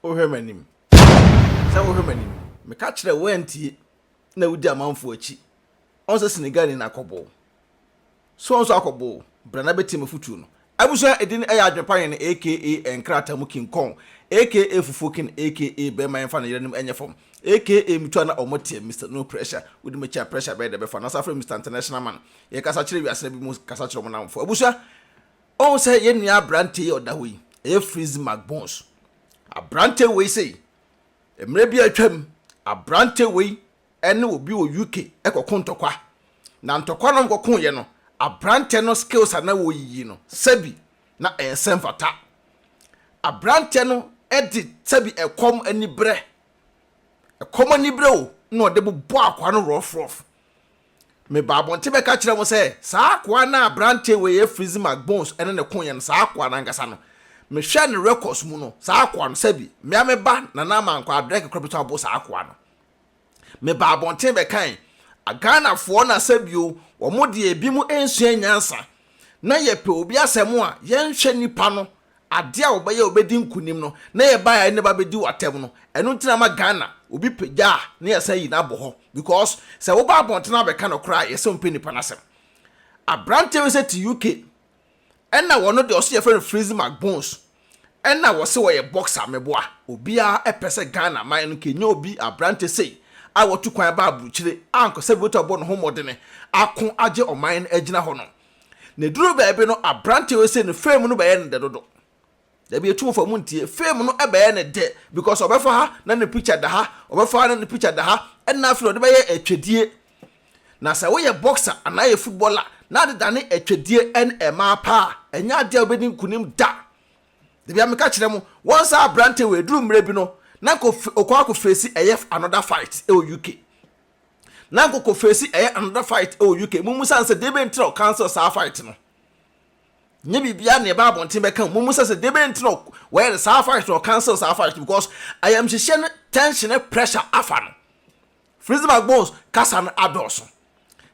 Wohwɛ m'anim, sɛ wohwɛ m'anim. Meka kyerɛ wo antie na wodi amanfoɔ akyi. Ɔn sɛ Senegalni na akɔbɔ wo. So ɔn nso akɔbɔ wo? Bra na bɛtie m'afotuo no. Abusua edin ɛyɛ adwene pa hene aka nkrataa mu king kong aka fufuo king aka bɛɛma yɛnfa no yeranom ɛnyɛ fam aka mutua na ɔmɔ teɛ Mister no pressure wode me kyia pressure bɛyɛ dɛ bɛfa nasa frɛ Mister international man yɛkasa kyerɛ wiase na bi mu kasa kyerɛ ɔmo namfo abusua Woahu sɛ yɛn nua aberante yi a ɔda hɔ yi, ɛyɛ Fritz Magbons. Aberante wei sei, mmerɛ bi a atwam, aberante wei ne obi wɔ UK kɔko ntɔkwa. Na ntɔkwa no a wɔkɔkoeɛ no, aberante no skills a na wɔyiyi no, sɛbi na ɛnsɛ mfata. Aberante no de sɛbi ɛkɔm aniberɛ, ɛkɔm aniberɛ o, na ɔde bobɔɔ akwaa no rɔfrɔf. Mebaa abɔnten bɛka kyerɛɛ mo sɛ, 'Saa akoa no a aberante wei yɛ Fritz Magbons ne ne koyɛ no, saa akoa no ankasa no. Mehwɛɛ ne records mu no, saa akoa no, sɛbi, me ara me ba na na ama nkwadaa berɛ kakra bɛtumi abo saa akoa no. Mebaa abɔnten bɛkae. Ghanafoɔ na sɛ bio, wɔn deɛ ebinom nsua nyansa. Na yɛpɛ obi asɛm a, yɛnhwɛ nipa no. Adeɛ a wɔbɛyɛ a wɔbɛdi nkunim no, na yɛ baeɛ a yɛne bɛabɛdi wɔ atɛm no. Ɛno nti na ama Ghana, obi pagya a, na yɛasan ayi no abɔ hɔ. Because, sɛ woba abɔntene abɛka nokorɛ a, yɛsɛ wompɛ nnipa no asɛm. Abranteɛ wei sɛ te UK, ɛna wɔno deɛ ɔse yɛfrɛ no Freezy McBones, ɛna wɔse wɔyɛ boxer, meboa. Obiara pɛ sɛ Ghana man no nka ɛnya obi, abranteɛ sei, a watu kwan ba aburukyire, a anka sɛ bi wɔ ta bɔ ne ho mmɔdene, ako agye ɔman no agyina hɔ no. Na eduru baabi no, aberante wei se ne fame no bɛyɛ ne dɛ dodo. Dabi etu wɔfa mu ntie. Fame no bɛyɛ ne dɛ because ɔbɛfa ha na ne picture da ha, ɔbɛfa ha na ne picture da ha, ɛnna afei na ɔde bɛyɛ atwedie. Na sɛ woyɛ boxer anaa yɛ footballer na ade dane atwedie ɛne ɛmaa paa a, ɛnyɛ adeɛ a wobɛdi nkunim da. Dabi a meka kyerɛ mo, wɔn saa aberante wei eduru mmerɛ bi no, na nka ɔkɔ akɔfeesi ɛyɛ another fight wɔ UK. na nkɔkɔ face ɛyɛ another fight ɛwɔ UK mo musa no sɛ debɛ nti na ɔ cancel saa fight no nyɛ biribiara na ɛba abɔnten bɛka mo musa sɛ debɛ nti na wɔyɛ no saa fight na ɔ cancel saa fight because ayamhyehyeɛ ne tension ne pressure afa no Frizzy McBones kasa no adɔɔso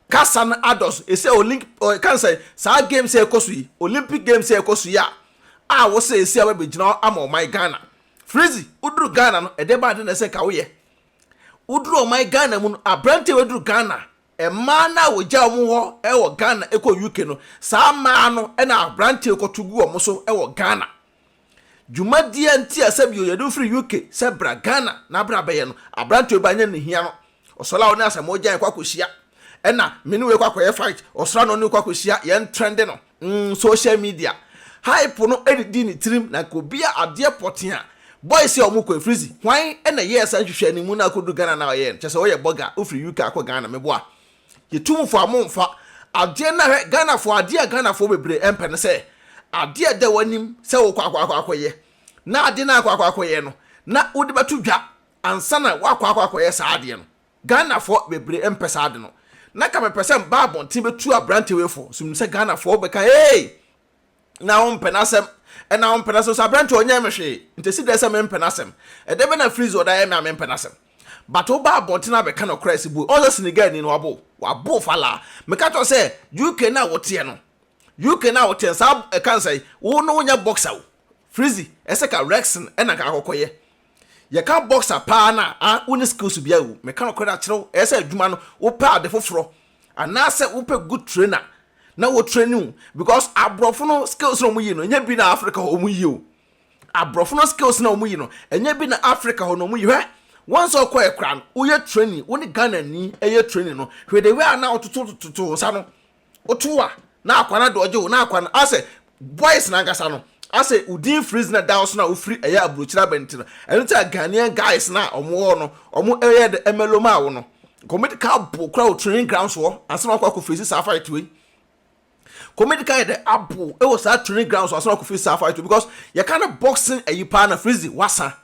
kasa no adɔɔso ɛsɛ olink ɔka sɛ saa games a ɛkɔ so yi Olympic games a ɛkɔ so yi a a wɔsɛ ɛsi a wɔbɛgyina hɔ ama ɔman Ghana Frizzy woduru Ghana no ɛdɛ baa de na ɛsɛ nka woyɛ Woduru ɔman Ghana mu no, aberante bɛduru Ghana. Mmaa no a wɔgya wɔn hɔ wɔ Ghana kɔ UK no, saa mmaa no na aberante kɔto gu wɔn so wɔ Ghana. Dwumadie nti a sɛbio yɛde wo firi UK sɛ bra Ghana na bra bɛyɛ no, aberante wei bɛanyɛ ne hia no. Ɔsɔre a wo ne asɛmɔgya yɛkɔ akɔhyia, ɛna me ne wei kɔ akɔyɛ fight, ɔsɔre a na ɔne wo kɔ akɔhyia, yɛn trɛnde no. mm social media hype no didi ne tirim na nka obi a adeɛ pɔtee a boys a wɔkɔ afirizi hwan na ɛyɛɛ saa nhwehwɛ no mu na akɔdu Ghana na ɔyɛɛ no kyɛ sɛ ɔyɛ bɔga wofiri UK akɔ Ghana meboa yɛtu mu fo a momfa adeɛ no ahwɛ Ghanafoɔ adeɛ a Ghanafoɔ bebree ɛmpɛ no sɛ adeɛ a ɛda w'anim sɛ wokɔ akɔ akɔ akɔyɛ na adeɛ no akɔ akɔ akɔyɛ no na wode bɛto dwa ansa na woakɔ akɔ akɔyɛ saa adeɛ no Ghanafoɔ bebree mpɛ saa ade no. Na ka mepɛ sɛ mba abɔnten bɛtu aberante wei fo, nso menim sɛ Ghanafoɔ bɛka hey! na wompɛ n'asɛm, ɛna wompɛ n'asɛm, nso aberante yi ɔnyɛɛ me hwee, nti ɛsi dɛn sɛ mempɛ n'asɛm? Ɛdeɛ bɛn na Freeze ɔda yɛ me a mempɛ n'asɛm? But woba abɔnten na abɛka nokorɛ a ɛsi bo yi, ɔnsɛ Senegalni no wabo, wabo falaa. Meka kyerɛ wo sɛ UK no a woteɛ no, UK no a woteɛ no, saa ɛka ne sɛn? Wo no wonyɛ boxer o, Freeze, ɛsɛ ka wrexling ɛna nka akɔkɔyɛ. Yɛka boxer paa no a, wonni skills biara o. Meka nokorɛ akyerɛ wo, ɛyɛ sɛ adwuma no wopɛ ade foforɔ anaasɛ wopɛ good trainer na wɔ traini wo because aborɔfo no skills na wɔyi no ɛnyɛ bi na Africa hɔ wɔyi o. Aborɔfo no skills na wɔyi no ɛnyɛ bi na Africa hɔ no wɔyi. Hwɛ, once ɔkɔɛ koraa no, woyɛ traini, wo ne Ghanani yɛ traini no, hwɛ the way a na wototototo wo nsa no, Woto wo a, na akwa no adɔɔgye wo, na akwa no, asɛ boys no ankasa no, asɛ wo din freeze na ɛda wo so na wofiri ɛyɛ aburokyire aba nti no, ɛno nti a Ghanaian guys no a wɔwɔ hɔ no, wɔyɛɛ dɛ mɛlo maa wo no. Kɔmɛdi ka abow koraa wɔ training grounds hɔ ansa na wakɔ akɔ face saa fight wei. Kɔmɛdi ka yɛ dɛ abow wɔ saa training grounds hɔ ansa na wakɔ face saa fight wei because yɛka no boxing ayi paa na freeze wasa.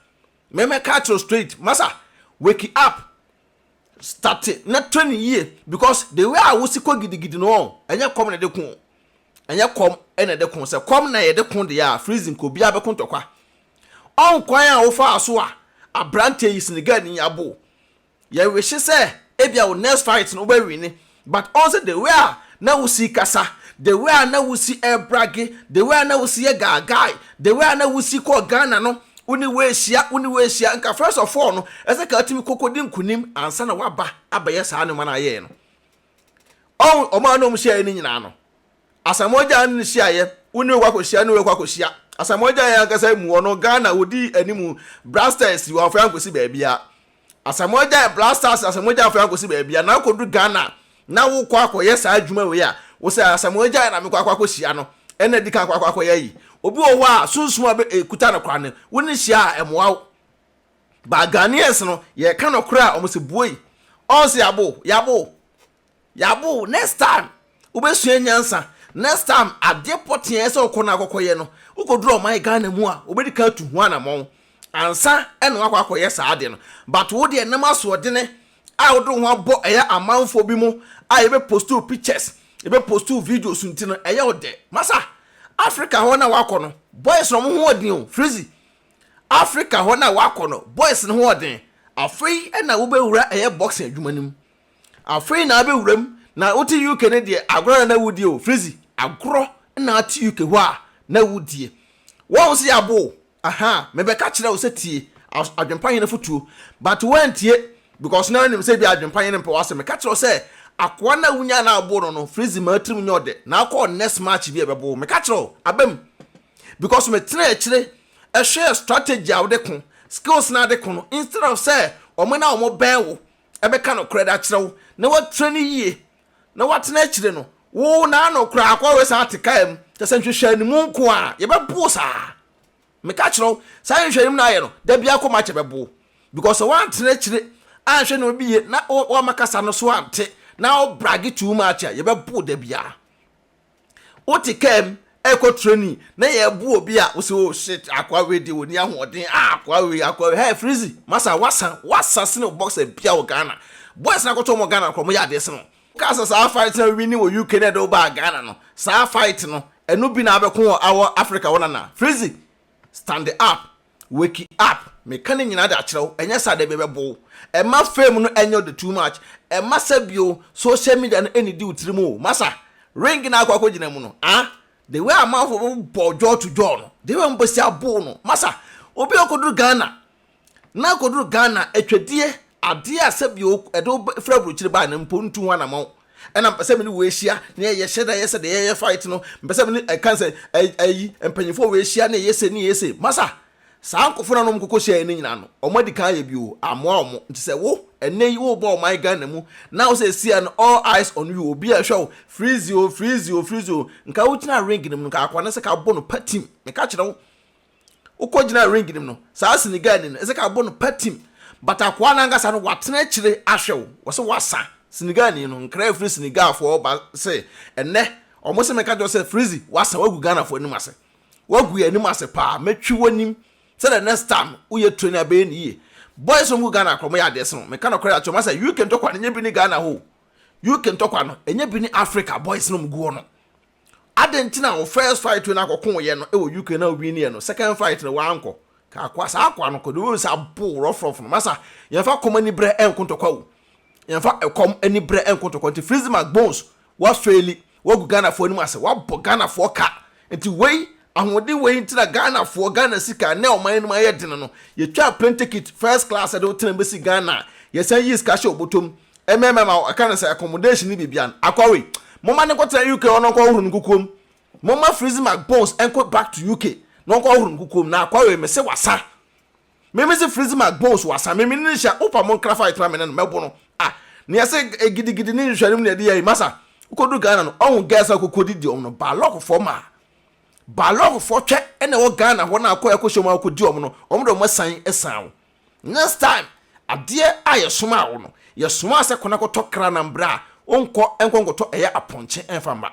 Mɛmɛka akyerɛ straight, masa, wake up. starte na train no yie because the way a wosi kɔ gidigidi no wɔn ɛnyɛ kɔm na ɛde ko o ɛnyɛ kɔm ɛna ɛde ko sɛ kɔm na yɛde ko deɛ a freezing kɔ obiara bɛko ntɔkwa ɔn kwan a wofaa so a aberanteɛ yi Senegalni yi abo yɛwehye sɛ ebia wo next fight no wobɛwine But ɔnnsɛ the way a na wosi kasa, the way a na wosi brage, the way a na wosi yɛ gaagai, the way a na wosi kɔɔ Ghana no, wo ne wei hyia, wo ne wei hyia, nka first of all no ɛsɛ ka atumi kɔ kɔdi nkunim ansa na waba abɛyɛ saa nnoɔma no a yɛyɛ no. Ɔho, ɔmo a na ɔmo hyiaeɛ no nyinaa no, Asamoah Gyan ne no hyiaeɛ, wo ne wei kɔ akɔhyia, ne wei kɔ akɔhyia. Asamoah Gyan ankasa mu hɔ no, Ghana ɔdii anim, Brasters, wɔamfa yɛn ankɔsi baabiara. Asamoah gyae Black Stars Asamoah gyae afei ankɔsi baabi a na akɔduru Ghana a na wokɔ akɔyɛ saa adwuma wei a wo sɛ Asamoah gyae na mekɔ akɔ akɔhyia no ɛna di kan akɔ akɔ akɔyɛ ayi obi wɔ hɔ a sunsum a ɛkuta no koraa no wo ne hyia a ɛmoa wo but Ghanaians no yɛka nɔkorɛ a wɔn sɛ buoi ɔn sɛ yɛabo yɛabo Yabo next time wobɛsua nyansa next time adeɛ pɔtee a ɛsɛ wokɔ no akɔkɔyɛ no wokɔduru ɔman Ghana mu a wobɛdi kan atu ho anamɔn ansa na wakɔ akɔyɛ saa adeɛ no but wo deɛ nam asoɔdene a wode wo ho abɔ ɛyɛ amanfoɔ bi mu a yɛbɛ post wo pictures yɛbɛ post wo videos nti no ɛyɛ wo dɛ masa Africa hɔ na wakɔ no boys no ɔmo ho ɔden o Frizzy Africa hɔ na wakɔ no boys no ho ɔden afei na wobɛwura ɛyɛ boxing adwuma no mu Afei na abɛ wuram na wote UK no deɛ agorɔ na na wodie o Frizzy agorɔ na ate UK hɔ a na wodie Wahu sɛ yɛabo o ahaa mebɛka kyerɛ wo sɛ tie adwempa hene fotuo but woantie because na wonim sɛ ebia adwempa hene mpɛ w'asɛm meka kyerɛ wo sɛ akoa no a wonyaa no a woboo no no Frizzy maa tirim nyɛ ɔdɛ na akɔ next match bi a ɛbɛbo wo meka kyerɛ wo abam because metenaa akyire ɛhwɛɛ strategy a wode ko skills no ade ko no instead of sɛ wɔn na wɔbɛn wo bɛka nokorɛ de akyerɛ wo na woatie no yie na woatena akyire no, wo na ano koraa kɔ wɛsa ate kaa mu, kyerɛ sɛ nhwehwɛanimu nko a, yɛbɛbo wo saa. Meka kyerɛ wo, saa nhwehwɛanimu no ayɛ no, da biara kɔ match ɛbɛbo wo. Because sɛ woantena akyire anhwɛ nneɛma bi yie na woamma kasa no so ante na wo brage too much a, yɛbɛbo wo da biara. Wote kaa mu ɛrekɔ training na yɛreboa obi a wosɛ oh shit akoa wei deɛ ɔni ahoɔden ah akoa wei akoa wei hey Frizzy masa wasa wasa sene boxer bia wɔ Ghana boys no akɔtɔ wɔn Ghana korɔ mo yɛ adeɛ sene wɔn wokaa sɛ saa fight na winni wɔ UK na ɛde wo baa Ghana no saa fight no ɛno bi na abɛko wɔ awɔ Africa hɔ no anaa Frizzy stand up. Wake up! Meka ne nyinaa de akyerɛ wo, ɛnyɛ saa dabi ɛbɛbo wo. Ɛmma fame no ɛnyɛ wo de too much. Ɛmma sa bio, social media no ɛnnidi wo tirim o. Masa, ring no a akɔ akɔgyina mu no, ah! The way amanfoɔ bɛbobɔ jaw to jaw no, the way wɔbɛsi abow no, masa, obi a ɔkɔduru Ghana, na akɔduru Ghana, atwadie, adeɛ a sɛbi ɛde wo firi aburokyire baeɛ no mpo ntu ho anamɔn. Ɛna mpɛ sɛ me ne wo ahyia na yɛyɛ hyɛ da yɛ sɛ deɛ yɛyɛ fight no. Mpɛ sɛ me ne ɛka sɛ ayi mpanyinfoɔ wɔ ahyia na yɛyɛ sɛ ne yɛyɛ sɛ. Masa, saa nkɔfoɔ no a na wɔn kɔkɔ hyia yɛ no nyinaa no, wɔn adi kan ayɛ bi o, amoa wɔn. Nti sɛ wo, ɛnɛ yi, wo ba ɔman Ghana mu, na wo sɛ ɛsi a no all eyes on you, obi ɛhwɛ wo, freeze o, freeze o, freeze o, nka wo gyina ring no mu no, nka akwadaa no sɛ ka bɔ no patim, meka kyerɛ wo. Wokogyina ring no mu no, saa Senegalni no, Ezekiel bo no patim. But akoa no ankasa no, watena akyire ahwɛ wo. Wɔse wasa. Senegalni no, nkra firi Senegalfoɔ hɔ ba se, Ɛnnɛ, wɔse menka nkyerɛ wo sɛ Freezy, wasa, wagu Ghanafoɔ anim ase. Wagu yɛn anim ase paa. Mɛtwi w'anim sɛ the next time woyɛ training a, ɛbɛyɛ no yie. Boys a wɔgu Ghana akora, wɔyɛ adeɛ sen wo. Meka nɔkorɛ akyerɛ mo sɛ, UK ntɔkwa no, ɛnyɛ bi ne Ghana hɔ o. UK ntɔkwa no, ɛnyɛ bi ne Africa boys no a wɔgu hɔ no. Adɛn nti na wo first fight wei na akɔko yɛ no wɔ UK na wo win yɛ no second fight no wankɔ? Ka akoa saa akoa no kɔ de wei sa bo rough rough no masa yɛnfa kɔm ani brɛ ɛnko ntɔkwa wo yɛnfa ɛkɔm ani brɛ ɛnko ntɔkwa nti Freezy Mac Bones wa faili wagu Ghana foɔ anim ase wabɔ Ghana foɔ ka nti wei Ahoɔden wei nti na Ghanafoɔ, Ghana sika, nnɛ ɔman no mu ayɛ den no, yɛtwaa plane ticket, first class, de wo tena bɛsi Ghana, yɛsan yii sika hyɛɛ wo bɔtɔm, MMM a wɔka no sɛ accommodation ne biribiara no. Akwawei, momma no nkɔtena UK hɔ na ɔnkɔhohoro ne nkukuom. Momma Freezy McBones nkɔ back to UK na ɔnkɔhohoro ne nkukuom. Na Akwawei, mese wasa. Me me se freeze mark bones wasa me me ne nhyɛ wopa mo nkra fight na me ne no mɛbo no ah ne yɛse gidigidi ne nhwɛne mu ne yɛde yɛ masa wokɔdu Ghana no ɔho girls a wokɔkɔ didi ɔm no balɔkofoɔ ma balɔkofoɔ twɛ ɛna ɛwɔ Ghana hɔ na akɔ ɛkɔhyɛ mu a wokɔdi ɔm no ɔm de ɔm asan ɛsan wo next time adeɛ a yɛsoma wo no yɛsoma sɛ kɔna kɔtɔ kra na mbra a wonkɔ ɛnkɔ nkɔtɔ ɛyɛ apɔnkye ɛnfa mma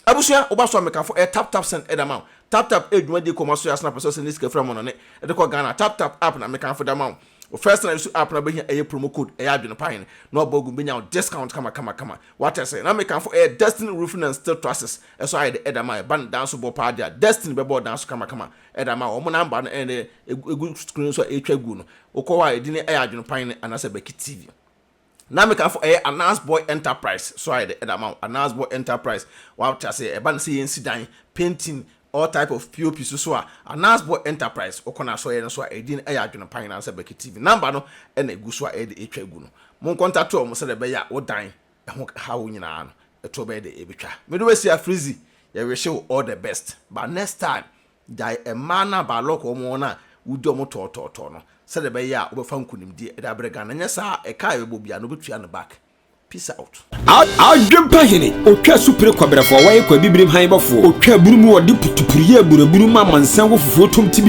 Abusua, woba so a mekafo ɛ tap tap send ɛda ma wo. Tap tap ɛ dwumadie kɔ ma so yɛ asana pɛ sɛ ɔsɛnde sika fira mɔnane ɛde kɔ Ghana a tap tap app na mekanfo da ma wo. Wo first na isu app na wobɛhia ɛyɛ promo code ɛyɛ adwene pa hene na wabɔ agu bɛnya wo discount kama kama kama wate aseɛ na mekanfo ɛ Destiny roofing and steel trusses ɛso ayɛ dɛ ɛda ma ɛba ne dan so bɔ paa dea Destiny bɛbɔ wo dan so kama kama ɛda ma wo wɔn number no ɛne ɛgu screen so a ɛretwa guo no wokɔ hɔ a ɛdin ɛyɛ adwene pa hene anasɛ Becky TV. Na me ka fo ɛyɛ Anas boy enterprise so ayɛ dɛ ɛde ama wo Anas boy enterprise wate aseɛ ɛba no sɛ yɛn si dan painting all type of pop so so a Anas boy enterprise wokɔ no asɔyɛ no so a ɛdin ɛyɛ adwene pa nyinaa sɛ Becky TV number no ɛna ɛgu so a ɛyɛ dɛ ɛtwa gu no mo nkɔntate ɔmo sɛdɛ ɛbɛyɛ a wo dan ɛho haw nyinaa no ɛtoɔ bɛyɛ dɛ ɛbɛtwa me de wasi a Frizzy yɛ wish wo all the best but next time Gyae mmaa no a Baalɔk wɔ wɔn a wodi wɔn tɔɔtɔɔtɔɔ no sɛdeɛ ɛbɛyɛ a wobɛfa nkonimdie de abrɛ Ghana, anyɛ saa a ɛka a yɛbɔ biara no wobɛtua no back. Peace out. Adwempa hene, otwa asu pere kɔberɛfoɔ, wɔyɛ kɔ abibirim hann bɔfoɔ, otwa abunu mu, wɔde putupuruyɛ abunu abunu mu amansan wɔ fufuo tom tibidi.